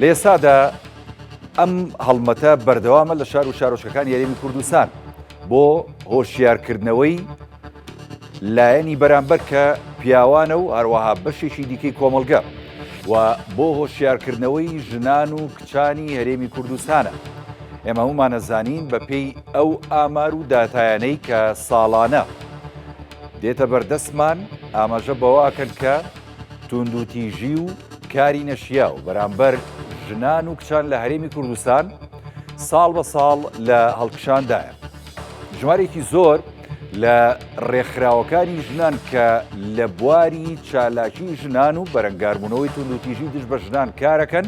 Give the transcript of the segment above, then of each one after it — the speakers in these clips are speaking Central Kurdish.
لە ئێستادا ئەم هەڵمەتە بەردەوامە لە شار و شارۆچکەکان یاریمی کوردستان بۆ هۆشیارکردنەوەی لایەنی بەرامبەر کە پیاوانە و هەروەها بەشێکی دیکەی کۆمەلگە و بۆ هۆشیارکردنەوەی ژنان و کچانی هەرێمی کوردستانە ئێمە ومانە زانین بە پێی ئەو ئامار و داتایانەی کە ساڵانە دێتە بەردەستمان ئاماژە بەوە ئەکەن کە توندوتیژی و کاری نەشیاو بەرامبەر ژنان و کچان لە هەرێمی کوردستان ساڵ بە ساڵ لە هەڵکشاندایە ژمارێکی زۆر لە ڕێکخراوەکانی ژنان کە لە بواری چالاکی ژنان و بەرەنگاربوونەوەی توندوتیژی دژ بە ژنان کارەکەن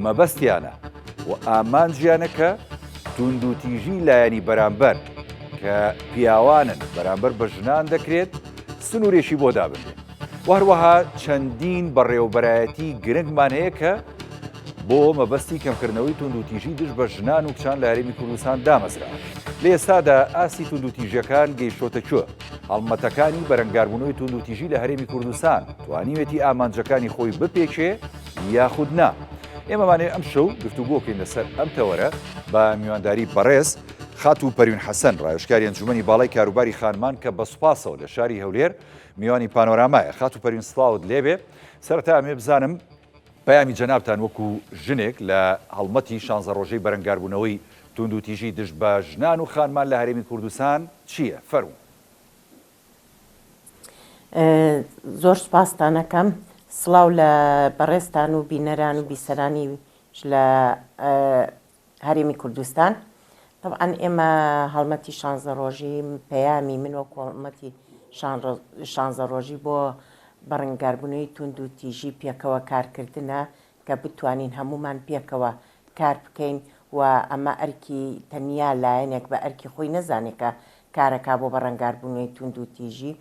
مەبەستیانە و ئامانجیانەکە توندوتیژی لایەنی بەرامبەر کە پیاوانن بەرامبەر بە ژنان دەکرێت سنوورێکی بۆ دابنێت و هەروەها چەندین بەڕێوەبەرایەتی گرنگمان هەیە کە بۆ مەبەستی کەمکردنەوەی توندوتیژی دژ بە ژنان و کچان لە هەرێمی کوردستان دامەزرا لە ئێستادا ئاستی توندوتیژەکان گەیشتۆتە کوێ هەڵمەتەکانی بەرەنگاربوونەوەی توندوتیژی لە هەرێمی کوردستان توانیوێتی ئامانجەکانی خۆی بپێکێ یاخود نا ئێمەمانێ ئەم شەو گفتوگۆکەین لەسەر ئەم تەوەرە بە میوانداری بەڕێز خاتو پەروین حەسەن ڕایشکاری ئەنجومی باڵی کاروباری خانمان کە بە سوپاسەوە لە شاری هەولێر میوانی پانۆرامایە خاتو پەروین سڵاوت لێبێ سەرەتا ئەمێ بزانم پەیامی جەنابتان وەکو ژنێک لە هەڵمەتی شانزە ڕۆژەی بەرەنگاربوونەوەی توندوتیژی دژ بە ژنان و خانمان لە هەرێمی کوردستان چییە؟ فەرموو. زۆر سوپاستانەکەم سڵاو لە بەڕێزتان و بینەران و بیسەرانیش لە هەرێمی کوردستان تەبعەن ئێمە هەڵمەتی شانزە ڕۆژی پەیامی من وەکو هەڵمەتی شانزە ڕۆژی بۆ بەڕنگاربوونەوەی توند و تیژی پێکەوە کارکردنە کە بتوانین هەمومان پێکەوە کار بکەین و ئەمە ئەرکی تەنیا لایەنێک بە ئەرکی خۆی نەزانێکە کارەکە بۆ بەڕەنگاربوونەوەی توند و تیژی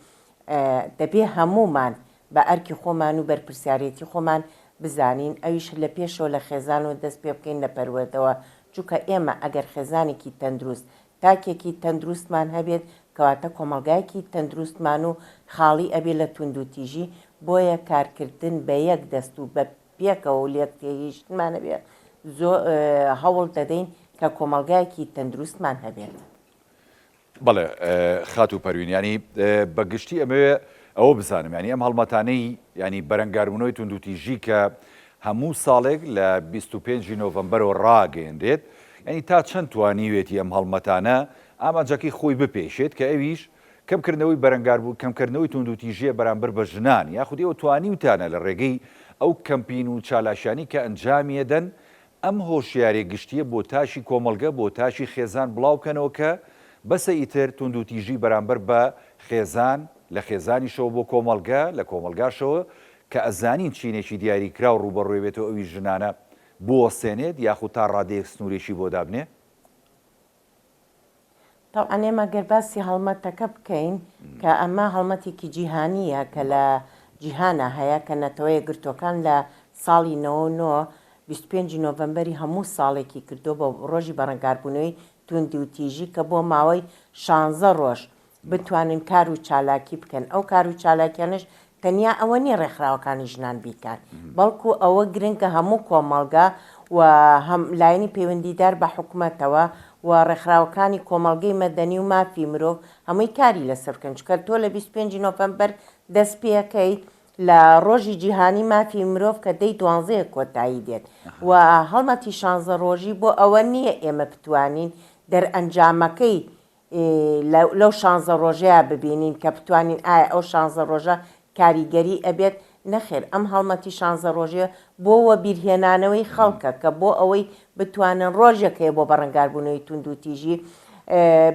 دەبێ هەمومان بە ئەرکی خۆمان و بەرپرسیارێتی خۆمان بزانین ئەویش لە پێشەوە لە خێزانەوە دەست پێ بکەین لە پەروەردەوە چونکە ئێمە ئەگەر خێزانێکی تەندروست تاکێکی تەندروستمان هەبێت کەواتە کۆمەڵگایەکی تەندروستمان و خاڵی ئەبێ لە توندوتیژی بۆیە کارکردن بە یەک دەست و بە پێکەوە و لێک تێگەیشتنمان هەبێت زۆر هەوڵ دەدەین کە کۆمەڵگایەکی تەندروستمان هەبێت. بەڵێ خاتوو پەروین یانی بە گشتی ئەمەوێ ئەوە بزانم یانی ئەم هەڵمەتانەی ینی بەرەنگاربوونەوەی توندوتیژی کە هەموو ساڵێک لە 25 نۆڤمبەرەوە ڕاگەیەنرێت ینی تا چەند توانیوێتی ئەم هەڵمەتانە ئامانجەکەی خۆی بپێشێت کە ئەویش کەمکردنەوەی بەرەنگاربوو کەمکردنەوەی توندوتیژیە بەرامبەر بە ژنان یاخودی ئەو توانیوتانە لە ڕێگەی ئەو کەمپین و چالاشانی کە ئەنجامیەدەن ئەم هۆشیاریە گشتیە بۆ تاکی کۆمەڵگە بۆ تاکی خێزان بڵاو بکەنەوە کە بەسە ئیتر توندوتیژی بەرامبەر بە خێزان لە خێزانیشەوە بۆ کۆمەڵگە لە کۆمەڵگاشەوە کە ئەزانین چینێکی دیاری کراو ڕووبەڕوێ بێتەوە ئەویش ژنانە بوەستێنێت یاخود تا ڕادەیەک سنورێکی بۆ دابنێ تەبعەن ئێمە گەر باسی هەڵمەتەکە بکەین کە ئەمە هەڵمەتێکی جیهانییە کە لە جیهانا هەیە کە نەتەوە یەکگرتووەکان لە ساڵی نەوە و نۆ بیست و پێنج ی نۆڤەمبەری هەموو ساڵێکی کردووە بە ڕۆژی بەڕەنگاربوونەوەی تووندوتیژی کە بۆ ماوەی شانزە ڕۆژ بتوانن کار و چالاکی بکەن، ئەو کار و چالاکیانەش تەنیا ئەوە نییە ڕێکخراوەکانی ژنان بیکات، بەڵکو ئەوە گرنگە هەموو کۆمەڵگا و هەم لایەنی پەیوەندیدار بە حکومەتەوە و ڕێکخراوەکانی کۆمەڵگەی مەدەنی و مافی مرۆڤ هەمووی کاری لەسەر بکەن، چونکە تۆ لە بیست و پێنج نۆفەمبەر دەست پێکەیت لە ڕۆژی جیهانی مافی مرۆڤ کە دەی دوانزەیە کۆتایی دێت و هەڵمەتی شانزە ڕۆژی بۆ ئەوە نییە ئێمە بتوانین دەرئەنجامەکەی ی لەو شانزە ڕۆژەیا ببینین کە بتوانین ئایا ئەو شانزە ڕۆژە کاریگەری ئەبێت؟ نەخێر ئەم هەڵمەتی شانزە ڕۆژەیە بۆ وەبیرهێنانەوەی خەڵکە کە بۆ ئەوەی بتوانن ڕۆژێک هەیە بۆ بەڕەنگاربوونەوەی توندوتیژی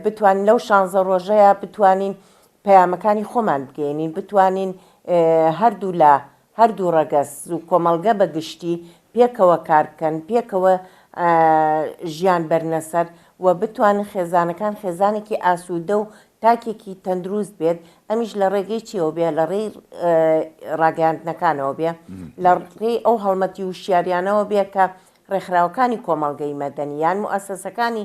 بتوانین لەو شانزە ڕۆژەیا بتوانین پەیامەکانی خۆمان بگەینین بتوانین هەردوو لا هەردوو ڕەگەز و کۆمەڵگە بە گشتی پێکەوە کار بکەن، پێکەوە ژیان بەرنە سەر و بتوانن خێزانەکان خێزانێکی ئاسوودە و تاکێکی تەندروست بێت، ئەمیش لە ڕێگەی چیەوە بێ لە ڕێی ڕاگەیاندنەکانەوە بێ لە ڕێی ئەو هەڵمەتی وشیاریانەوە بێ کە ڕێکخراوەکانی کۆمەڵگەی مەدەنی یان موئەسەسەکانی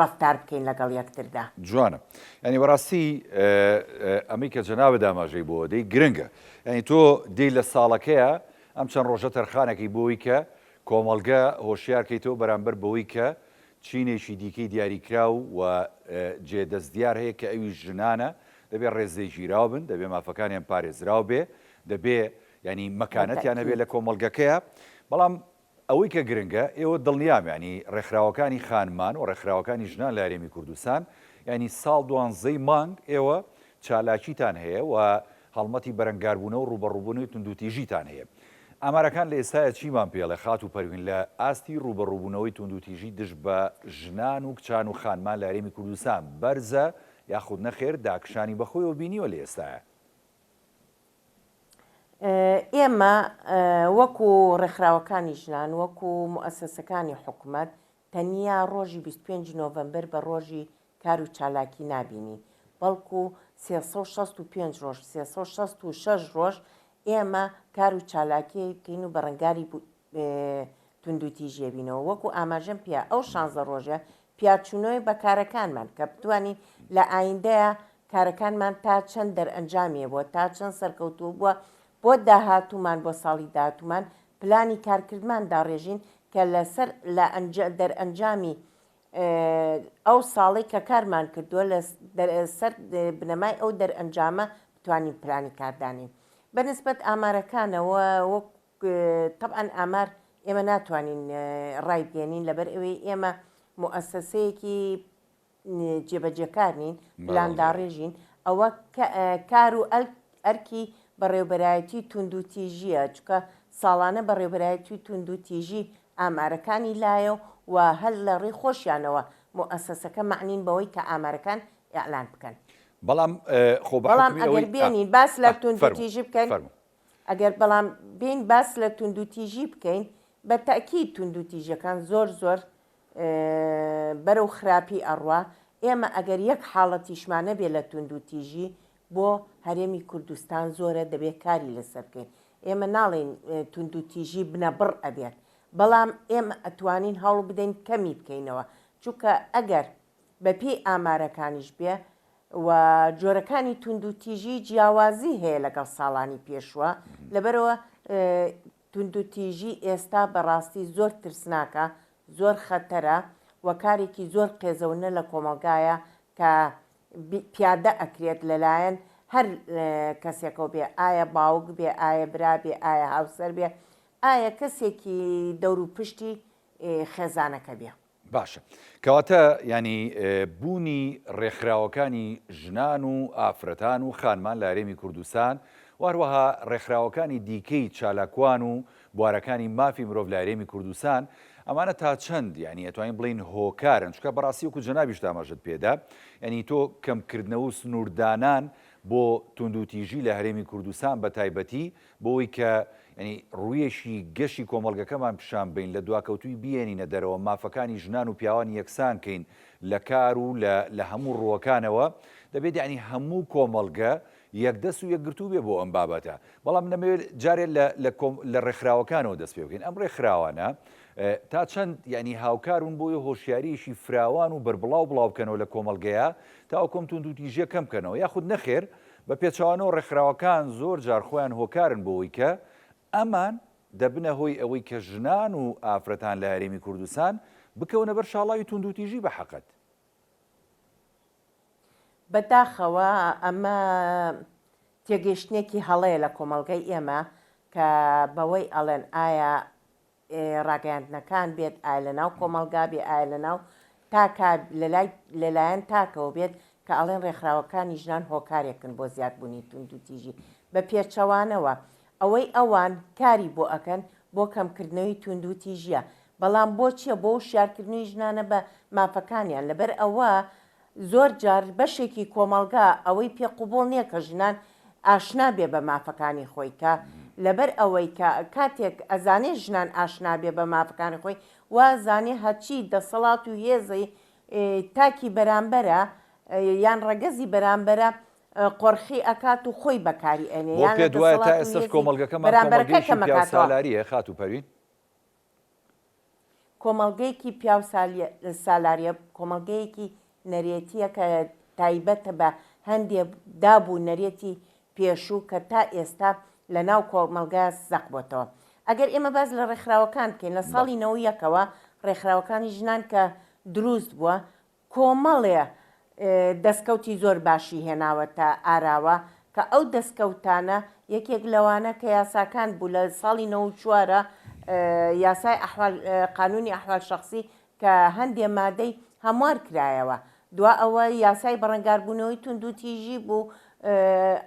ڕەفتار بکەین لەگەڵ یەکتردا. جوانە یانی بەڕاستی ئەمەی کە جەنابت ئاماژەی بۆوە دەی گرنگە یانی تۆ دێی لە ساڵەکەیە ئەم چەند ڕۆژە تەرخانەکەی بۆی کە کۆمەڵگە هۆشیار کەیتەوە بەرامبەر بەوەی کە چینێکی دیکەی دیاریکراو و جێ دەست دیار هەیە کە ئەویش ژنانە دەبێ ڕێز لێ گیراو بن دەبێ مافەکانیان پارێزراو بێ دەبێ یانی مەکانەتیان هەبێ لە کۆمەڵگەکەیە بەڵام ئەوەی کە گرنگە ئێوە دڵنیام یانی ڕێکخراوەکانی خانمان و ڕێکخراوەکانی ژنان لە هەرێمی کوردستان یانی ساڵ دوانزەی مانگ ئێوە چالاکیتان هەیە و هەڵمەتی بەرەنگاربوونە و ڕووبەڕووبوونەوەی توندوتیژیتان هەیە ئامارەکان لە ئێستایا چیمان پێڵێ خاتوو پەروین لە ئاستی ڕووبەڕووبوونەوەی توندوتیژی دژ بە ژنان و کچان و خانمان لە هەرێمی کوردستان بەرزە یاخود نەخێر داکشانی بەخۆیەوە بینیوە لە ئێستایا؟ ئێمە وەکو ڕێکخراوەکانی ژنان وەکو موئەسەسەکانی حکومەت تەنیا ڕۆژی 25 نۆڤەمبەر بە ڕۆژی کار و چالاکی نابینین بەڵکو 365 ڕۆژ 366 ڕۆژ ئێمە کار و چالاکیکەین و بەڕەنگاری توندوتیژیەبینەوە وەکو ئاماژەم پێ ئەو شانزە ڕۆژە پیاچونەوەی بە کارەکانمان کە بتوانین لە ئایندەیە کارەکانمان تا چەند دەرئەنجامیە بوە تا چەند سەرکەوتوو بوە بۆ داهاتومان بۆ ساڵی داهاتومان پلانی کارکردمان داڕێژین کە لەسەر لە ئەنج دەرئەنجامی ئەو ساڵی کە کارمان کردووە لە سەر بنەمای ئەو دەرئەنجامە بتوانین پلانی کاردانین بەنسبەت ئامارەکانەوە وەکو تەبعەن ئامار ئێمە ناتوانین ڕای بگەیەنین لەبەر ئەوەی ئێمە موئەسەسەیەکی جێبەجێکار نین پلانداڕێژین ئەوە کار و ئەرکی بەڕێوبەرایەتی توند و تیژیە چکە ساڵانە بەڕێوبەرایەتی توند و تیژی ئامارەکانی لایە و هەل لە ڕێ خۆشیانەوە موئەسەسەکە مەعنین بەوەی کە ئامارەکان ئیعلان بکەن بەڵام خۆ بەڵام ئەگەر بێنین باس لە توند و تیژی بکەن ئەگەر بەڵام بێین باس لە توندوتیژی بکەین بە تەئکید توندوتیژەکان زۆر زۆر بەرەو خراپی ئەڕوا ئێمە ئەگەر یەک حاڵەتیشمانە بێ لە توندوتیژی بۆ هەرێمی کوردستان زۆرە دەبێت کاری لەسەر بکەین ئێمە ناڵین توندوتیژی بنە بڕ ئەبێت بەڵام ئێمە ئەتوانین هەوڵ بدەین کەمی بکەینەوە چونکە ئەگەر بەپێی ئامارەکانیش بێ و جۆرەکانی توندوتیژی جیاوازی هەیە لەگەڵ ساڵانی پێشوە لەبەرەوە توندوتیژی ئێستا بەڕاستی زۆر ترسناکە زۆر خەتەرە و کارێکی زۆر قێزەونە لە کۆمەلگایە کە پیادە ئەکرێت لەلایەن هەر کەسێکەوە بێ ئایا باوک بێ ئایا برا بێ ئایا هاوسەر بێ ئایا کەسێکی دەور و پشتی خێزانەکە بێ باشە کەواتە یانی بوونی ڕێکخراوەکانی ژنان و ئافرەتان و خانمان لە هەرێمی کوردستان و هەروەها ڕێکخراوەکانی دیکەی چالاکوان و بوارەکانی مافی مرۆڤ لە هەرێمی کوردستان ئەمانە تا چەند یانی ئەتوانین بڵین هۆکارن چکە بەڕاستی وکو جەنابیش دامەژت پێدا یعنی تۆ کەمکردنەوە و سنووردانان بۆ توندوتیژی لە هەرێمی کوردستان بە تایبەتی بۆوەی کە یانی ڕوویەکی گەشی کۆمەڵگەکەمان پیشان بەین، لە دواکەوتووی بیێنینە دەرەوە، مافەکانی ژنان و پیاوان یەکسان کەین لە کار و لە لە هەموو ڕووەکانەوە، دەبێت یانی هەموو کۆمەڵگە یەکدەست و یەکگرتوو بێ بۆ ئەم بابەتە. بەڵام من ئەمەوێت جارێ لە لە کۆم لە ڕێکخراوەکانەوە دەست پێ بکەین. ئەم ڕێکخراوانە تا چەند یانی هاوکار بوون بۆوەی هۆشیاریەکی فراوان و بەربڵاو بڵاو بکەنەوە لە کۆمەڵگەیا تاوەکو ئەم توندوتیژیە کەم بکەنەوە یاخود نەخێر بە پێچەوانەوە ڕێکخراوەکان زۆر جار خۆیان هۆکارن بۆوەی کە ئەمان دەبنە هۆی ئەوەی کە ژنان و ئافرەتان لە هەرێمی کوردستان بکەونە بەر شاڵاوی توندوتیژی بە حەقت. بە داخەوە ئەمە تێگەیشتنێکی هەڵەیە لە کۆمەڵگەی ئێمە کە بەوەی ئەڵێن ئایا ڕاگەیاندنەکان بێت، ئایا لە ناو کۆمەڵگا بێ، ئایا لە ناو تاکا، لە لای لە لایەن تاکەوە بێت کە ئەڵێن ڕێکخراوەکانی ژنان هۆکارێکن بۆ زیاد بوونی توندوتیژی بە پێچەوانەوە ئەوەی ئەوان کاری بۆ ئەکەن بۆ کەم کردنەوەی توندوتیژیە بەڵام بۆ چیە بۆ وشیار کردنی ژنانە بە مافەکانیان لەبەر ئەوە زۆر جار بەشێکی کۆمەڵگا ئەوەی پێ قبوڵ نیە کە ژنان ئاشنا بێ بە مافەکانی خۆی کە لەبەر ئەوەی کە کاتێک ئەزانێ ژنان ئاشنا بێ بە مافەکانی خۆی وا زانێ هەرچی دەسەڵات و هێزی تاکی بەرامبەرە یان ڕەگەزی بەرامبەرە قۆرخی ئەکات و خۆی بەکاری ئەێنێ یان لە دەسەڵات و هێزی بەرامبەرەکەی کەم ئەکاتەوە. بۆ پێت وایە تا ئێستەش کۆمەڵگەکەمان کۆمەڵگەیەکی فێودالاریە خاتوو پەروین؟ کۆمەڵگەیەکی پیاو سالاریە کۆمەڵگەیەکی نەرێتیە کە تایبەتە بە هەندێ داب و نەرێتی پێشوو کە تا ئێستا لە ناو کۆمەڵگا زەق بۆتەوە ئەگەر ئێمە باز لە ڕێکخراوەکان بکەین لە ساڵی نەوەیەکەوە ڕێکخراوەکانی ژنان کە دروست بووە کۆمەڵێ دەستکەوتی زۆر باشی هێناوەتە ئاراوە کە ئەو دەستکەوتانە یەکێک لەوانە کە یاساکان بوو لە ساڵی نەوەد و چوار یاسای ئەحوال قانونی ئەحوال شەخسی کە هەندێ مادەی هەموار کرایەوە دوا ئەوە یاسای بەڕەنگاربوونەوەی توندوتیژی بوو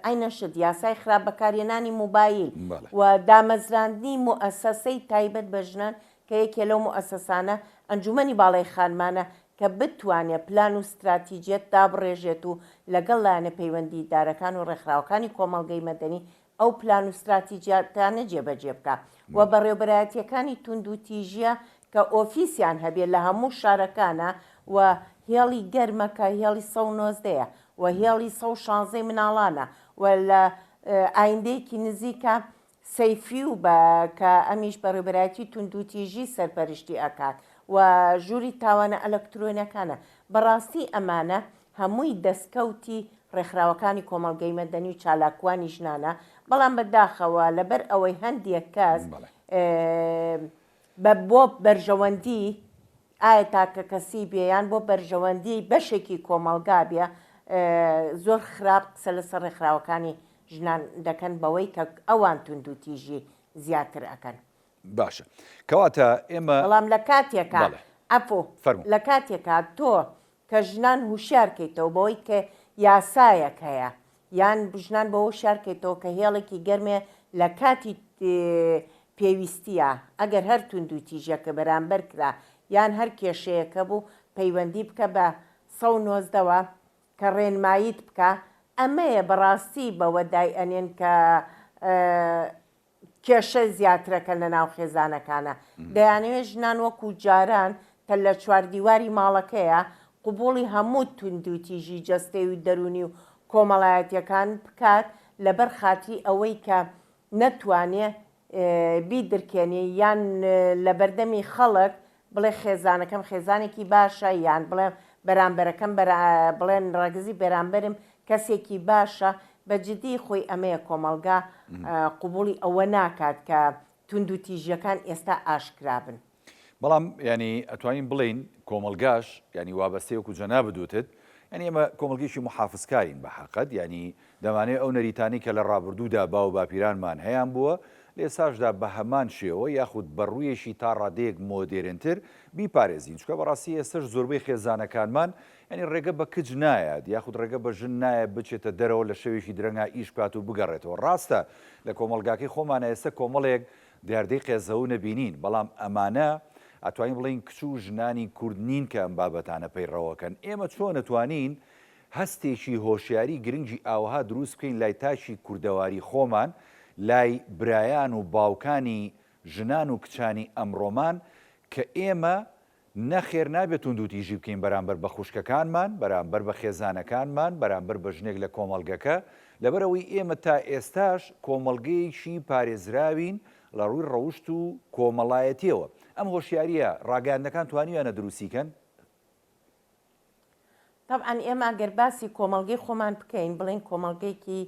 عەینە شت یاسای خراپ بەکارهێنانی موبایل و دامەزراندنی موئەسەسەی تایبەت بە ژنان کە یەکێ لەو موئەسەسانە ئەنجومەنی باڵای خانمانە کە بتوانێت پلان و ستراتیجیەت دابڕێژێت و لەگەڵ لایەنە پەیوەندی دارەکان و ڕێکخراوەکانی کۆمەڵگەی مەدەنی ئەو پلان و ستراتیجیاتانە جێبەجێ بکا و بەڕێوبەرایەتیەکانی توند و تیژیە کە ئۆفیسیان هەبێ لە هەموو شارەکانا و هێڵی گەرمە کە هێڵی سەد و نۆزدە یە و هێڵی سەد و شانزە ی مناڵانە و لە ئایندەیەکی نزیکا سەیفی و بە کە ئەمیش بەڕێوبەرایەتی توندوتیژی سەرپەرشتی ئەکات و ژووری تاوانە ئەلەکترۆنیەکانە بەڕاستی ئەمانە هەمووی دەستکەوتی ڕێکخراوەکانی کۆمەڵگەی مەدەنی و چالاکوانی ژنانە بەڵام بە داخەوە لەبەر ئەوەی هەندێک کەس بە بۆ بەرژەوەندی ئایا تاکەکەسی بێ یان بۆ بەرژەوەندیی بەشێکی کۆمەڵگا بێ، زۆر خراپ قسە لەسەر ڕێکخراوەکانی ژنان دەکەن بەوەی کە ئەوان توندوتیژی زیاتر ئەکەن. باشە کەواتە ئێمە. بەڵام لە کاتێکا. بەڵێ. عەفو. فەرموو. لە کاتێکا تۆ کە ژنان هوشیار کەیتەوە بەوەی کە یاسایەک هەیە یان ژنان بەوە شار کەیتەوە کە هێڵێکی گەرمێ لە کاتی پێویستیە ئەگەر هەر توندو تیژەکە بەرامبەر کرا یان هەر کێشەیەکە بوو پەیوەندی بکە بە سەد و نۆزدە وە کە ڕێنماییت بکا ئەمەیە بەڕاستی بەوەدای ئەنێن کە کێشە زیاترەکە لە ناو خێزانەکانە، دەیانەوێت ژنان وەکو جاران کە لە چواردیواری ماڵەکەیە، قبوڵی هەموو توندوتیژی جەستەیی و دەروونی و کۆمەڵایەتیەکان بکات لەبەر خاتری ئەوەی کە نەتوانێت بیدرکێنێت یان لەبەردەمی خەڵک بڵێ خێزانەکەم خێزانێکی باشە یان بڵێ بەرامبەرەکەم بڵێن ڕەگزی بەرامبەرم کەسێکی باشە بە جدی خۆی ئەمەیە کۆمەڵگا قوبولی ئەوە ناکات کە تونند و تیژیەکان ئێستا ئاشکرابن بەڵام ینی ئەتوانین بڵین کۆمەلگاش ینی وابەستەیەک و جەنا بدوتت ینی ئمە کۆمەلگەیشی محافزکارین بە حقت ینی دەمانەوێت ئەو نەریتانەی کە لە ڕابردوودا باوباپیرانمان هەیان بووە، لە ئێستاشدا بە هەمان شێوە یاخود بە ڕوویەکی تا ڕادەیەک مۆدێرنتر بیپارێزین، چونکە بەڕاستی ئێستەش زۆربەی خێزانەکانمان یانی ڕێگە بە کچ نایات یاخود ڕێگە بە ژن نایات بچێتە دەرەوە لە شەوێکی درەنگا ئیش بکات و بگەڕێتەوە. ڕاستە لە کۆمەڵگاکەی خۆمانا ئێستە کۆمەڵێک دیاردەی قێزەون دەبینین، بەڵام ئەمانە ئەتوانین بڵێین کچ و ژنانی کورد نین کە ئەم بابەتانە پەیڕەوەکەن، ئێمە چۆن ئەتوانین هەستێکی هۆشیاری گرنگی ئاوەها دروست بکەین لای تاکی کوردەواری خۆمان، لای برایان و باوکانی ژنان و کچانی ئەمڕۆمان، کە ئێمە نەخێر نابێت توندوتیژی بکەین بەرامبەر بە خوشکەکانمان، بەرامبەر بە خێزانەکانمان، بەرامبەر بە ژنێک لە کۆمەڵگەکە، لەبەرئەوەی ئێمە تا ئێستاش کۆمەڵگەیەکی پارێزراوین لە ڕووی ڕەوشت و کۆمەڵایەتیەوە. ئەم هۆشیاریە ڕاگەیاندنەکان توانیویانە دروستی کەن؟ تەبعەن ئێمە گەر باسی کۆمەڵگەی خۆمان بکەین بڵێن کۆمەڵگەیەکی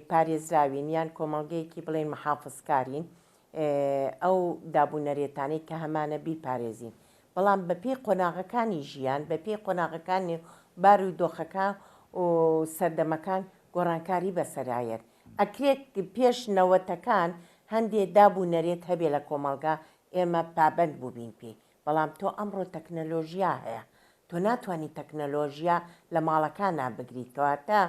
پارێزراوین یان کۆمەڵگەیەکی بڵێن محافزکارین ئەو دابوونەرێتانەی کە هەمانە بیپارێزین بەڵام بەپی قۆناغەکانی ژیان بەپی قۆناغەکانی بار و دۆخەکە و سەردەمەکان گۆڕانکاری بەسەرایەت ئەکرێت پێش نەوەتەکان هەندێ داب و نەرێت هەبێ لە کۆمەلگا ئێمە پابند بووبین پێی بەڵام تۆ ئەمڕۆ تەکنەلۆژیا هەیە تۆ ناتوانی تەکنەلۆژیا لە ماڵەکانا بگری کەواتە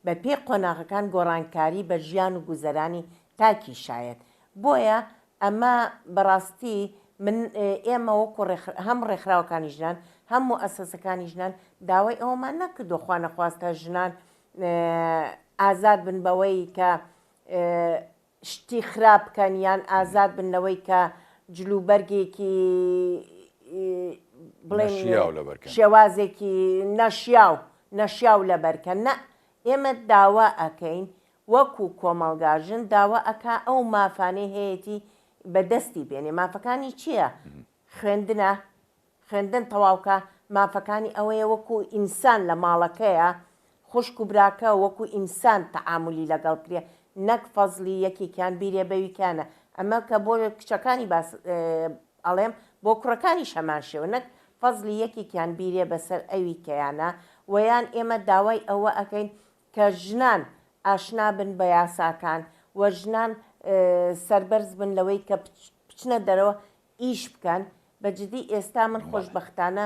بە پێی قۆناغەکان گۆڕانکاری بە ژیان و گوزەرانی تاکی شایەت بۆیە ئەمە بەڕاستی من ئێمە وەکو هەم ڕێکخراوەکانی ژنان هەم و ئەسەسەکانی ژنان داوای ئەومان نەکردو خوانەخواستە ژنان ئازاد بن بەوەی کە شتی خراپ بکەن یان ئازاد بن لەوەی کە جل و بەرگێکی بڵێن نەشیاو لەبەر کەن. شێوازێکی نەشیاو نەشیاو لەبەر کەن نا ئێمە داوا ئەکەین وەکو کۆمەڵگا ژن داوا ئەکا ئەو مافانەی هەیەتی بەدەستی بێنێ مافەکانی چیە خوێندنە خوێندن تەواوکە مافەکانی ئەوەیە وەکو ئینسان لە ماڵەکەیە خوشک و براکە وەکو ئینسان تەعامولی لەگەڵ کرێ نەک فەزڵی یەکێکیان بیرێ بەویکانە ئەمە کە بۆ کچەکانی باس ئەڵێم بۆ کوڕەکانیش هەمان شێوە نەک فەزڵی یەکێکیان بیرێ بەسەر ئەوی کەیانە وەیان ئێمە داوای ئەوە ئەکەین کە ژنان ئاشنا بن بە یاساکان و ژنان سەربەرز بن لەوەی کە بچنە دەرەوە ئیش بکەن بە جدی ئێستا من خۆشبەختانە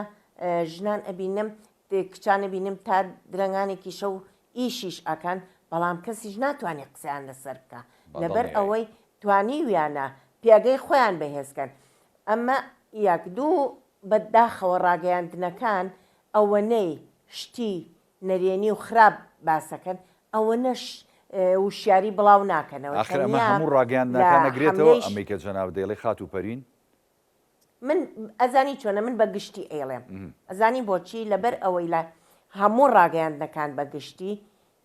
ژنان ئەبینم کچان ئەبینم تا درەنگانێکی شەو ئیشیش ئەکەن بەڵام کەسیش ناتوانێت قسەیان لەسەر بکە لەبەر ئەوەی توانیویانە پێگەی خۆیان بەهێزکەن ئەمە یەک دوو بەداخەوە ڕاگەیاندنەکان ئەوەنەی شتی نەرێنی و خراپ باسەکەن ئەوەنەش وشیاری بڵاو ناکەنەوە ئاخر ئەمە تەنیا هەموو لە ڕاگەیاندنەکان نەگرێتەوە حەملەیش ئەمەی کە جەنابت دەیڵێ خاتوو پەروین من ئەزانی چۆنە من بە گشتی ئەیڵێم ئەزانی بۆچی لەبەر ئەوەی لە هەموو ڕاگەیاندنەکان بە گشتی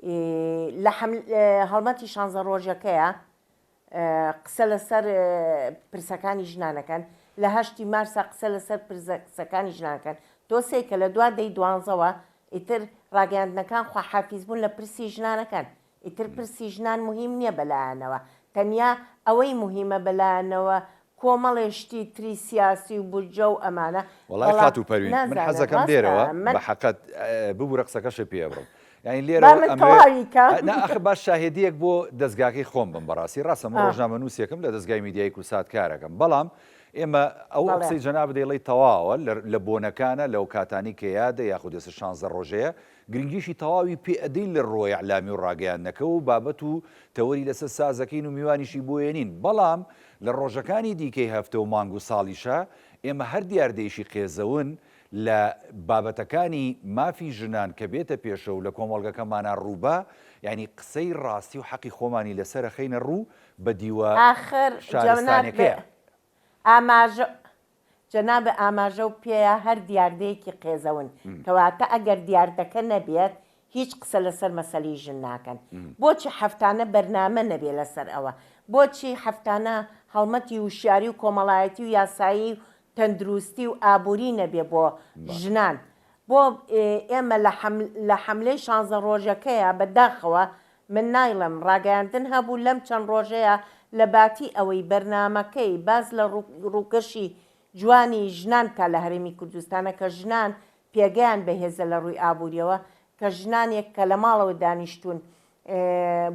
اه، لە حەمل اه، هەڵمەتی شانزە ڕۆژەکەیە قسە لەسەر پرسەکانی ژنانەکەن لە هەشتی مارسا قسە لەسەر پرسەکانی ژنانکەن تۆ سەی کە لە دوا دەی دوانزەوە ئیتر ڕاگەیاندنەکان خواحافیز بوون لە پرسی ژنانەکەن ئیتر پرسی ژنان مهم نییە بەلایانەوە تەنیا ئەوەی مهمە بەلایانەوە کۆمەڵێ شتی تری سیاسی و بودجە و ئەمانە. وەڵای بەڵام خاتوو پەروین من نازانم حەزەکەم ڕاستە لێرەوە من. بە حەقت ببورە قسەکەشت پێ ئەبڕم یانی با لێرەوە من ئەمەوێ تەواوی کەم. نا ئەخ با شاهێدیەک بۆ دەزگاکەی خۆم بم بەڕاستی ڕاستە من آه. ڕۆژنامەنوسێکم لە دەزگای میدیای کوردسات کارەکەم بەڵام ئێمە ئەو ئەو بەڵێ. قسەی جەنابت دەیڵێی تەواوە لە لە بۆنەکانە لەو کاتانی کە یادە یاخود ئێستا شانزدە ڕۆژەیە گرنگیشی تەواوی پێ ئەدەین لە ڕووەی ئیعلامی و ڕاگەیاندنەکەوە و بابەت و تەوەری لەسەر ساز ئەکەین و میوانیشی بۆ ێەنین بەڵام لە ڕۆژەکانی دیکەی هەفتە و مانگ و ساڵیشا ئێمە هەر دیاردەیەکی قێزەون لە بابەتەکانی مافی ژنان کە بێتە پێشە و لە کۆمەڵگەکەمانا ڕووبا یانی قسەی ڕاستی و حەقی خۆمانی لەسەر ئەخەینە ڕوو بە دیوە ئاخر جەنابت شارستانەکەیە. ئاماژە جەناب ئاماژەو پێیە هەر دیاردەیەکی قێزەون، کەواتە ئەگەر دیاردەکە نەبێت هیچ قسە لەسەر مەسەلەی ژن ناکەن. بۆچی هەفتانە بەرنامە نەبێت لەسەر ئەوە؟ بۆچی هەفتانە هەڵمەتی وشیاری و کۆمەڵایەتی و یاسایی و تەندروستی و ئابوری نەبێت بۆ ژنان؟ بۆ ئێمە لە حەملەی شانزە ڕۆژەکەیە بەداخەوە من نایڵێم، ڕاگەیاندن هەبوو لەم چەند ڕۆژەیا لە باتی ئەوەی بەرنامەکەی باس لە ڕووکەشی جوانی ژنان بکات لە هەرێمی کوردستانە کە ژنان پێگەیان بەهێزە لە ڕووی ئابووریەوە کە ژنانێک کە لە ماڵەوە دانیشتوون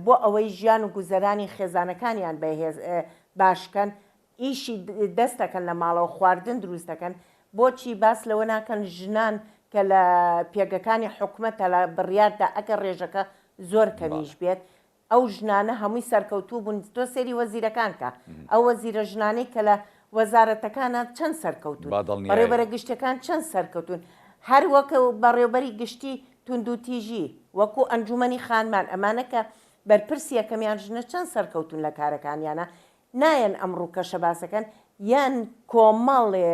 بۆ ئەوەی ژیان و گوزەرانی خێزانەکانیان بەهێز باش کەن ئیشی دەست دەکەن لە ماڵەوە خواردن دروست دەکەن بۆچی باس لەوە ناکەن ژنان کە لە پێگەکانی حکومەتە لە بڕیاردا ئەگەر ڕێژەکە زۆر کەمیش بێت ئەو ژنانە هەمووی سەرکەوتوو بوون تۆ سێری وەزیرەکان کە ئەو وەزیرە ژنانەی کە لە وەزارەتەکانە چەند سەرکەوتوون بەڕێوبەرە گشتەکان چەند سەرکەوتوون هەر وەکە و بەڕێوبەری گشتی توندوتیژی وەکو ئەنجومەنی خانمان ئەمانە کە بەرپرسی یەکەمیان ژنە چەند سەرکەوتوون لە کارەکانیانە نایەن ئەم ڕوکەشە باسەکەن یان کۆمەڵێ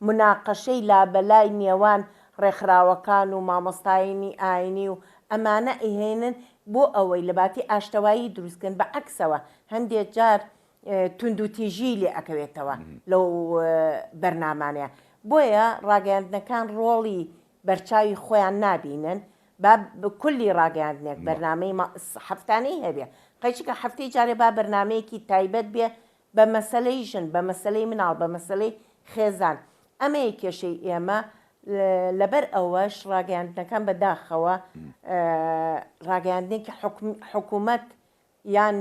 مناقەشەی لابەلای نێوان ڕێکخراوەکان و مامۆستاینی ئاینی و ئەمانە ئەیهێنن بۆ ئەوەی لە باتی ئاشتەوایی دروست کەن بە عەکسەوە هەندێ جار توندوتیژی لێ ئەکەوێتەوە لەو بەرنامانە بۆیە ڕاگەیاندنەکان ڕۆڵی بەرچاوی خۆیان نابینن با کولی ڕاگەیاندنێک بەرنامەی ما هەفتانەی هەبێ قەی چونکە هەفتەی جارێ با بەرنامەیەکی تایبەت بێ بە مەسەلەی ژن بە مەسەلەی مناڵ بە مەسەلەی خێزان ئەمەیە کێشەی ئێمە لەبەر ئەوەش ڕاگەیاندنەکان بە داخەوە ڕاگەیاندنێکی حکومەت یان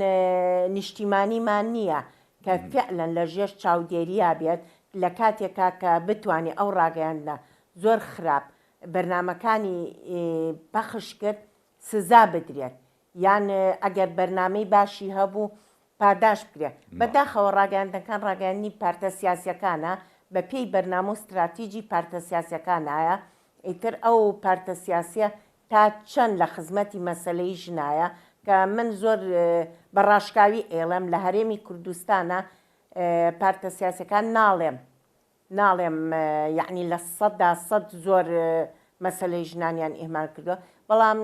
نیشتیمانیمان نییە کە فعلەن لە ژێر چاودێریا بێت لە کاتێکا کە بتوانێ ئەو ڕاگەیاندنە زۆر خراپ بەرنامەکانی پەخش کرد سزا بدرێت یان ئەگەر بەرنامەی باشی هەبوو پاداشت بدرێت بەداخەوە ڕاگەیاندنەکان ڕاگەیاندنی پارتە سیاسیەکانە بە پێی بەرنامە و ستراتیجی پارتە سیاسیەکانایە ئیتر ئەو پارتە سیاسیە تا چەند لە خزمەتی مەسەلەی ژنایە کە من زۆر بە ڕاشکاوی ئێڵێم لە هەرێمی کوردستانا پارتە سیاسەکان ناڵێم ناڵێم یعنی لە سەدا سەد زۆر مەسلەی ژنانیان ئیهمال کردووە بەڵام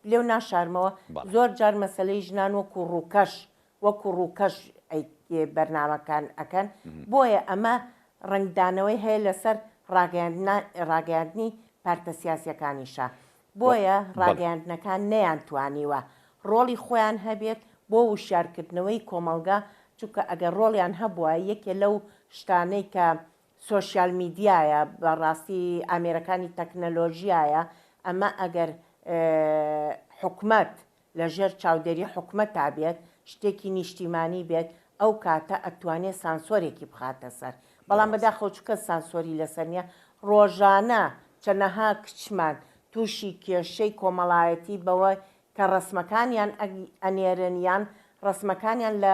لێو ناشارمەوە زۆر جار مەسلەی ژنان وەکو ڕووکەش وەکو ڕووکەش بەرنامەکان ئەکەن بۆیە ئەمە ڕەنگدانەوەی هەیە لەسەر ڕاگەیاندنی پارتە سیاسیەکانیشە بۆیە ڕاگەیاندنەکان نەیان توانیوە ڕۆڵی خۆیان هەبێت بۆ وشیارکردنەوەی کۆمەڵگا چونکە ئەگەر ڕۆڵیان هەبوایە یەکێ لەو شتانەی کە سۆشیال میدیایە بەڕاستی ئامێرەکانی تەکنەلۆژیایە ئەمە ئەگەر حکومەت لە ژێر چاودێری حکومەتا بێت شتێکی نیشتیمانی بێت ئەو کاتە ئەتوانێ سانسۆرێکی بخاتە سەر بەڵام بە داخەوە چونکە سانسۆری لەسەر نیە ڕۆژانە چەنەها کچمان توشی کێشەی کۆمەڵایەتی بەوە کە ڕەسمەکانیان ئەنێرن یان ڕەسمەکانیان لە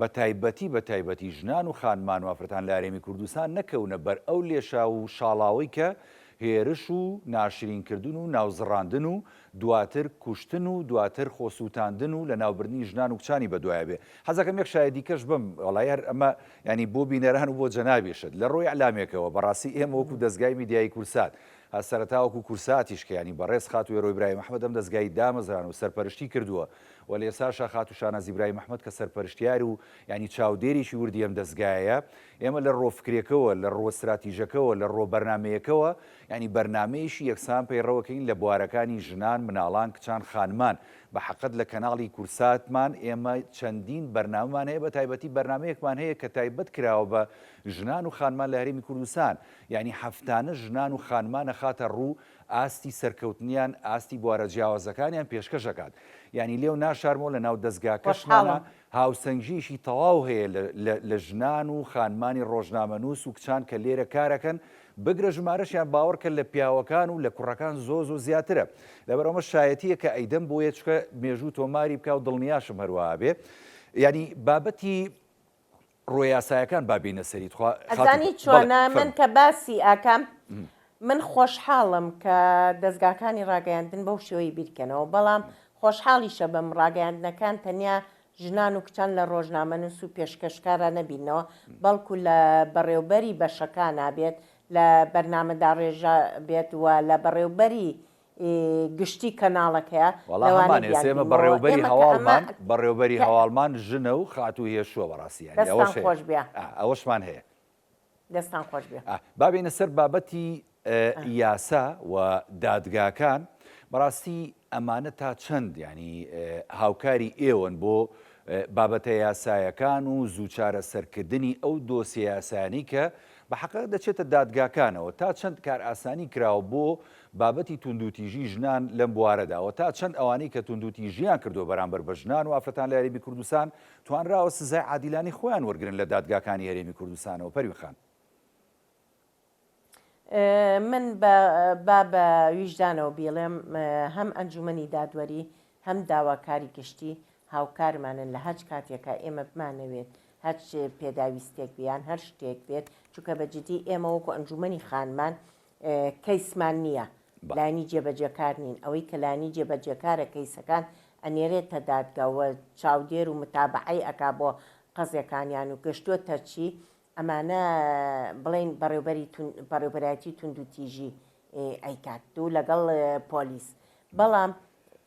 بە تایبەتی بە تایبەتی ژنان و خانمان و ئافرەتان لە هەرێمی کوردستان نەکەونە بەر ئەو لێشاو و شاڵاوەی کە هێرش و ناشرین کردن و ناوزڕاندن و دواتر کوشتن و دواتر خۆ سوتاندن و لە ناو بردنی ژنان و کچانی بە دوایە بێ حەز ئەکەم یەک شایەدی کەش بم وەڵای هەر ئەمە یانی بۆ بینەران و بۆ جەنابیشت لە ڕووی ئیعلامێکەوە بە ڕاستی ئێمە وەکوو دەزگای میدیایی کوردسات هە سەرەتا وەکوو کورساتیش کە یانی بەڕێز خاتوو وێرۆ ئیبراهیم ئەحمەد ئەم دەزگای دامەزراند و سەرپەرشتی کردووە وەلێ ساشا خاتوو شانازی برای محمەد کە سەرپەرشتیار و یانی چاودێرێکی وردی ئەم دەزگایەیە، ئێمە لە ڕۆ فکرێکەوە، لە ڕۆ ستراتیژەکەوە، لە ڕۆ بەرنامەیەکەوە، یانی بەرنامەیەکی یەکسان پەیڕەوەکەین لە بوارەکانی ژنان، مناڵان، کچان، خانمان، بە حەقت لە کەناڵی کورساتمان ئێمە چەندین بەرنامەمان هەیە بە تایبەتی بەرنامەیەکمان هەیە کە تایبەت کراوە بە ژنان و خانمان لە هەرێمی کوردستان، یانی هەفتانە ژنان و خانمان ئەخاتە ڕوو ئاستی سەرکەوتنیان ئاستی بوارە جیاوازەکانیان پێشکەش ئەکات یانی لێو ناشارمەوە لە ناو دەزگاکەشمانا خۆشحاڵم. هاوسەنگیەکی تەواو هەیە لە لە لە ژنان و خانمانی ڕۆژنامەنوس و کچان کە لێرە کارەکەن بگرە ژمارەشیان باوەڕکە لە پیاوەکان و لە کوڕەکان زۆ زۆ زیاترە لەبەر ئەوە شایەتیە کە ئەیدەم بۆیە چکە مێژوو تۆماری بکاو دڵنیاشم هەروەها بێ یانی بابەتی ڕۆ یاسایەکان با بێینە سەری تخوا خاتون گوڵ. ئەزانی بەڵێ چۆنە من فەرموو. کە باسی ئاکام من خۆشحاڵم کە دەزگاکانی ڕاگەیاندن بەو شێوەیە بیرکەنەوە بەڵام خۆشحاڵیشەبم ڕاگەیاندنەکان تەنیا ژنان و کچان لە ڕۆژنامەنوس و پێشکەشکارا نەبینەوە بەڵکو لە بەڕێوبەری بەشەکانا بێت لە بەرنامەداڕێژا بێت و لە بەڕێوبەری ی گشتی کەناڵەکەیە وەڵا هەمان لەوانەی ئێسێمە بیانگرین بەڕێوە بەوە بەری ئێمە کە ئەمە هەواڵمان بەڕێوە بەری کە هەواڵمان ژنە و خاتوو هێشووە بەڕاستی یانی ئەوەش دەستان هەیە خۆش بێ ئا ئەوەشمان هەیە دەستان خۆش بێ. ئا با بێینە سەر بابەتی ئا. ی یاسا و دادگاکان بەڕاستی ئەمانە تا چەند یانی ئا هاوکاری ئێوەن بۆ ئا بابەتە یاسایەکان و زوو چارەسەر کردنی ئەو دۆسیە یاسایانەی کە بە حەقە دەچێتە دادگاکانەوە تا چەند کارئاسانی کراوە بۆ بابەتی توندوتیژی ژنان لەم بوارەدا و تا چەند ئەوانەی کە توندوتیژیان کردووە بەرامبەر بە ژنان و ئافرەتان لە هەرێمی کوردستان توانراوە سزای عادیلانەی خۆیان وەرگرن لە دادگاکانی هەرێمی کوردستانەوە پەروین خان. من با بە ویژدانەوە بیڵێم هەم ئەنجومەنی دادوەری هەم داواکاری گشتی هاوکارمانن لە هەچ کاتێکە ئێمە بمانەوێت هەچ پێداویستێک بیان هەر شتێک بێت چونکە بە جدی ئێمە وەکو ئەنجومەنی خانمان کەیسمان نیە لایەنی جێبەجێکار نین ئەوەی کە لایەنی جێبەجێکارە کەیسەکان ئەنێرێتە دادگا و چاودێر و متابەعەی ئەکا بۆ قەزێکانیان و گەشتۆتە چی ئەمانە بڵێن بەڕێوبەری بەڕێوبەرایەتی توندوتیژی ئەیکات دوو لەگەڵ پۆلیس بەڵام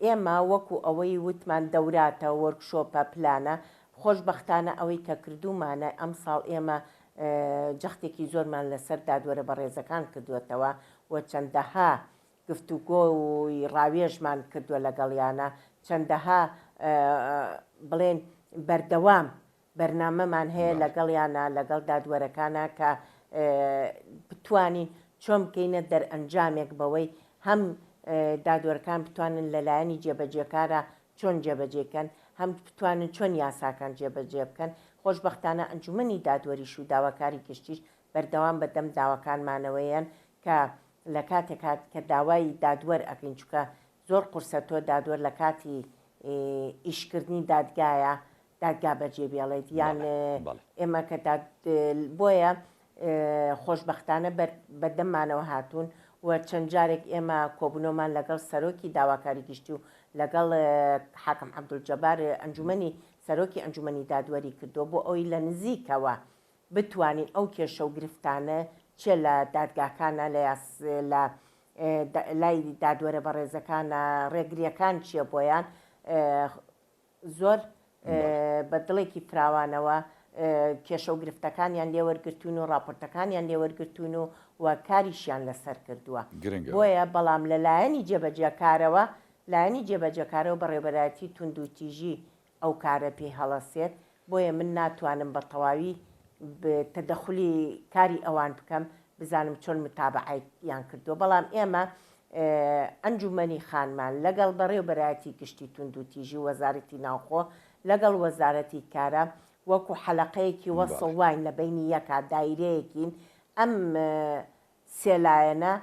ئێمە وەکو ئەوەی وتمان دەوراتە، وۆرکشۆپە، پلانە، خۆشبەختانە ئەوەی کە کردوومانە ئەمساڵ ئێمە جەختێکی زۆرمان لەسەر دادوەرە بەڕێزەکان کردووەتەوە و چەندەها گفتوگۆ و ڕاوێژمان کردووە لەگەڵیانا چەندەها بڵێن بەردەوام بەرنامەمان هەیە بەڵێ. لەگەڵیانا لەگەڵ دادوەرەکانا کە بتوانین چۆن بکەینە دەرئەنجامێک بەوەی هەم دادوەرەکان بتوانن لەلایەنی جێبەجێکارا چۆن جێبەجێی کەن هەم بتوانن چۆن یاساکان جێبەجێ بکەن خۆشبەختانە ئەنجومەنی دادوەریش و داواکاری گشتیش بەردەوام بەدەم داواکانمانەوەیەن کە لەکاتێکا کە داوای دادوەر ئەکەین چونکە زۆر قورسە تۆ دادوەر لە کاتی ئیش کردنی دادگایە دادگا بەجێ بێڵێت یان ئێمە کە بۆیە خۆشببختانە بەدەممانەوە هاتوون و چەند جارێک ئێمە کۆبنەوەمان لەگەڵ سەرۆکی داواکاری گشتی و لەگەڵ حاکم عبدول جەبار ئەنجومی سەرۆکی ئەنجومی دادوەری کردو بۆ ئەوی لە نزیکەوە بتوانین ئەو کێشە و گرفتانە چێ لە دادگاکانە لە یاس لە لای دادوەرە بەڕێزەکانە ڕێگریەکان چیە بۆیان زۆر بە دڵێکی فراوانەوە کێشە و گرفتەکانیان لێوەرگتون و ڕاپۆرتەکانیان لێوەرگتون و و کاریشیان لەسەر کردووە بۆیە بەڵام لە لایەنی جێبەجێکارەوە لایەنی جێبەجەکارەوە بەڕێبەرایەتی توندوتیژی ئەو کارە پێی هەڵەسێت، بۆیە من ناتوانم بە تەواوی تەدەخولی کاری ئەوان بکەم، بزانم چۆن متابەعەی یان کردووە، بەڵام ئێمە ئەنجومەنی خانمان لەگەڵ بەڕێوبەرایەتی گشتی توندوتیژی و وەزارەتی ناوخۆ لەگەڵ وەزارەتی کارا وەکو حەلەقەیەکی وەسڵ واین لە بەینی یەکا دایرەیەکین ئەم سێ لایەنە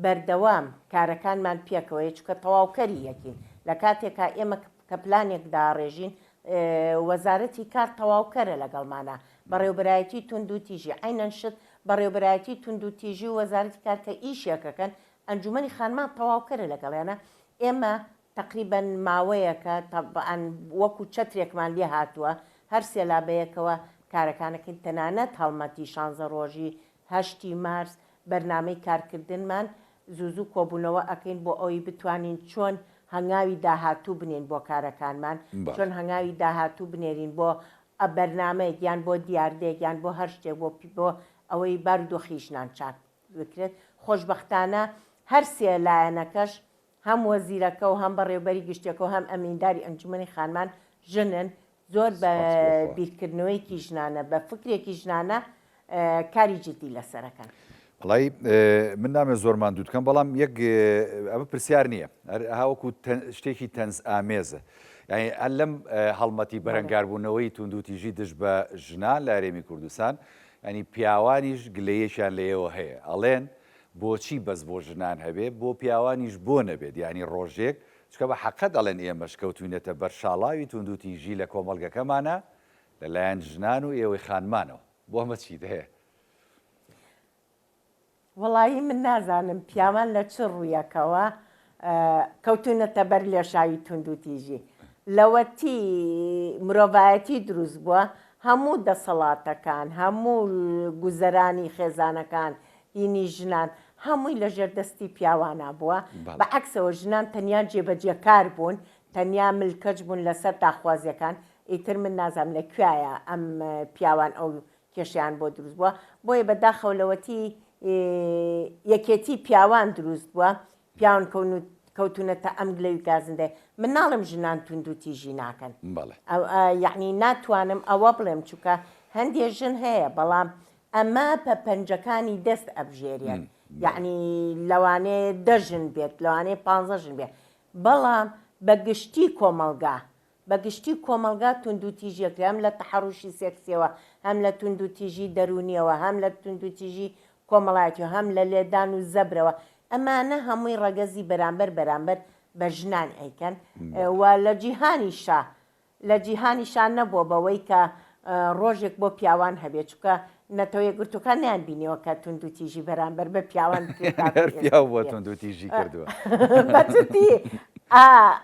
بەردەوام کارەکانمان پێکەوەیە، چونکە تەواوکەری یەکین، لە کاتێکا ئێمە کە پلانێک داڕێژین، وەزارەتی کار تەواوکەرە لەگەڵمانا، بەڕێوبەرایەتی توندوتیژی، عەینەن شت، بەڕێوبەرایەتی توندوتیژی و وەزارەتی کار کە ئیشێک ئەکەن، ئەنجومەنی خانمان تەواوکەرە لەگەڵیانا، ئێمە تەقریبەن ماوەیەکە تەبعەن وەکو چەترێکمان لێ هاتووە، هەر سێ لا بەیەکەوە کارەکانەکەین، تەنانەت هەڵمەتی شانزە ڕۆژی هەشتی مارس بەرنامەی کارکردنمان زوو زوو کۆبوونەوە ئەکەین بۆ ئەوەی بتوانین چۆن هەنگاوی داهاتوو بنێین بۆ کارەکانمان چۆن هەنگاوی داهاتوو بنێرین بۆ بەرنامەیەک یان بۆ دیاردەیەک یان بۆ هەر شتێک بۆ بۆ ئەوەی بارودۆخی ژنان چاک بکرێت خۆشبەختانە هەر سێ لایەنەکەش هەم وەزیرەکە و هەم بەڕێوبەری گشتیەکە و هەم ئەمینداری ئەنجومەنی خانمان ژنن، زۆر بە بیرکردنەوەیەکی ژنانە، بە فکرێکی ژنانە کاری جدی لەسەر ئەکەن. وەڵای من نامەوێت زۆر ماندووت بکەم، بەڵام یەک ئەمە پرسیار نییە، هەر ئەها وەکو شتێکی تەنز ئامێزە. یانی هەر لەم هەڵمەتی بەرەنگاربوونەوەی توندوتیژی دژ بە ژنان لە هەرێمی کوردستان، یانی پیاوانیش گلەیەکیان لێیەوە هەیە، ئەڵێن بۆچی بەس بۆ ژنان هەبێ بۆ پیاوانیش بۆ نەبێت یانی ڕۆژێک چونکە بە حەقە دەڵێن ئێمەش کەوتوینەتە بەر شاڵاوی توندوتیژی لە کۆمەڵگەکەمانا لە لایەن ژنان و ئێوەی خانمانەوە بۆ ئەمە چیت هەیە؟ وەڵایی من نازانم پیاوان لە چ ڕویەکەوە کەوتوونەتە بەر لێشاوی توندوتیژی لەوەتی مرۆڤایەتی دروست بووە هەموو دەسەڵاتەکان هەموو گوزەرانی خێزانەکان دینی ژنان هەمووی لە ژێر دەستی پیاوانە بووە بە عکسەوە ژنان تەنیا جێبەجێکار بوون تەنیا ملکەچ بوون لەسەر داخوازیەکان ئیتر من نازام لە کوایە ئەم پیاوان ئەو کێشەیان بۆ دروست بوە بۆیە بە داخەوە لەوەتی یەکێتی پیاوان دروست بوە پیاون کەونوت کەوتونەتە ئەم گلە و گازندەێ من ناڵم ژنان توندو تیژی ناکەن یعنی ناتوانم ئەوە بڵێم چووکە هەندێ ژن هەیە بەڵام ئەمە پە پەنجەکانی دەست ئەبژێریان یعنی لەوانێ دەژن بێت لەوانێ پ ژن بێت بەڵام بە گشتی کۆمەلگا بە گشتی کۆمەڵگا توندوتیژیەکری هەم لە تەحەڕوشی سێکسیەوە هەم لە توندوتیژی دەروونیەوە هەم لە توندوتیژی کۆمەڵایەتیەوە هەم لە لێدان و زەبرەوە ئەمانە هەمووی ڕەگەزی بەرامبەر بەرامبەر بە ژنان ئەیکەن و لە جیهانیشا لە جیهانیشا نەبووە بەوەی کە ڕۆژێک بۆ پیاوان هەبێت چونکە نەتەوەیەکگرتووەکان نەیانبینیوە کە توندوتیژی بەرامبەر بە پیاوان هەر پیاو بۆ توندوتیژی کردووە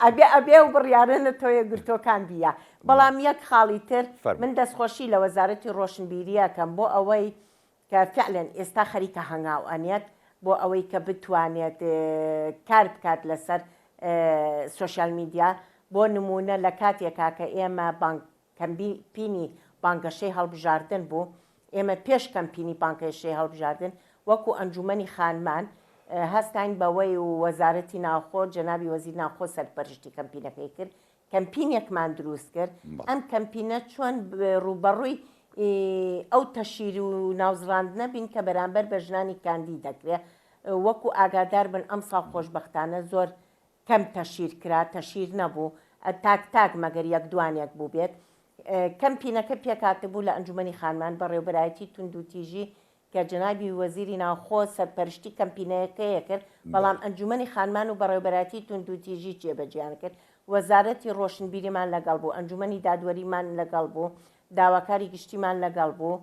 ئەبێ ئەبێ و بڕیارە نەتەوەیەکگرتووەکان بیە بەڵام یەک خاڵی تر من دەستخۆشی لە وەزارەتی ڕۆشنبیریەکەم بۆ ئەوەی کە فعلەن ئێستا خەریکە هەنگاو ئەنێت بۆ ئەوەی کە بتوانێت کار بکات لەسەر سوۆشیال میدیا بۆ نمونە لە کاتێکا کە ئێمە بانک کەمپینی بانگەشەی هەڵبژاردن بوو، ئێمە پێش کەمپینی بانگەشەی هەڵبژاردن وەکو ئەنجومەنی خانمان هەستاین بەوەی و وەزارەتی ناوخۆ جەنابی وەزیر ناوخۆ سەرپەرشتی کەمپینەکەی کرد، کەمپینێکمان دروست کرد، ئەم کەمپینە چۆن ڕووبەڕووی ئەو تەشیر و ناوزڕاندنە بین کە بەرامبەر بە ژنانی کاندید دەکرێت، وەکو ئاگاداربن ئەمساڵ خۆشبەختانە زۆر کەم تەشیر کرا تەشیر نەبوو تاک تاک مەگەر یەک دوانێک بووبێت کەمپینەکە پێکهاتبوو لە ئەنجومەنی خانمان بەڕێوبەرایەتی توندوتیژی کە جەنابی وەزیری ناوخۆ سەرپەرشتی کەمپینەکەیە کرد بەڵام ئەنجومەنی خانمان و بەڕێوبەرایەتی توندوتیژی جێبەجێیان کرد وەزارەتی ڕۆشنبیریمان لەگەڵ بوو ئەنجومەنی دادوەریمان لەگەڵ بوو داواکاری گشتیمان لەگەڵ بوو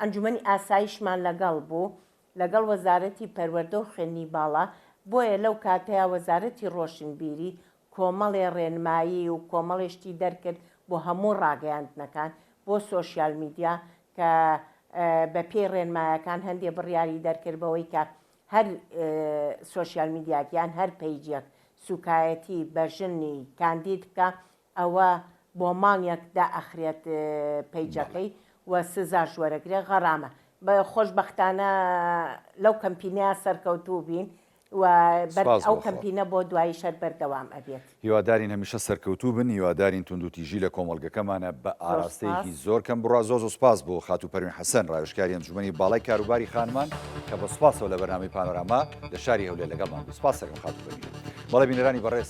ئەنجومەنی ئاسایشمان لەگەڵ بوو لەگەڵ وەزارەتی پەروەردە و خوێندنی باڵا، بۆیە لەو کاتەیا وەزارەتی ڕۆشنبیری کۆمەڵێ ڕێنمایی و کۆمەڵێ شتی دەرکرد بۆ هەموو ڕاگەیاندنەکان بۆ سۆشیال میدیا کە بە پێی ڕێنمایەکان هەندێ بڕیاری دەرکرد بەوەی کە هەر سۆشیال میدیاک یان هەر پەیجێک سوکایەتی بە ژنی کاندید بکا ئەوە بۆ مانگێک دائەخرێت پەیجەکەی و سزاش وەرەگرێت غەڕامە خۆشبەختانە لەو کەمپینە سەرکەوتوو بین و بەرد ئەو کەمپینە بۆ دوایی شەر بەردەوام ئەبێت هیوادارین هەمیشە سەرکەوتوو بن هیوادارین توندوتیژی لە کۆمەڵگەکەمانە بە ئاراستەیەکی زۆر کەم بڕا زۆر زۆر سوپاس بۆ خاتوو پەروین حەسەن ڕاوێژکاری ئەنجومەنی باڵای کاروباری خانمان کە بە سوپاسەوە لە بەرنامەی پانۆراما لە شاری هەولێر لەگەڵمان بوو سوپاس دەکەم خاتوو پەروین بەڵێ بینەرانی بەڕێز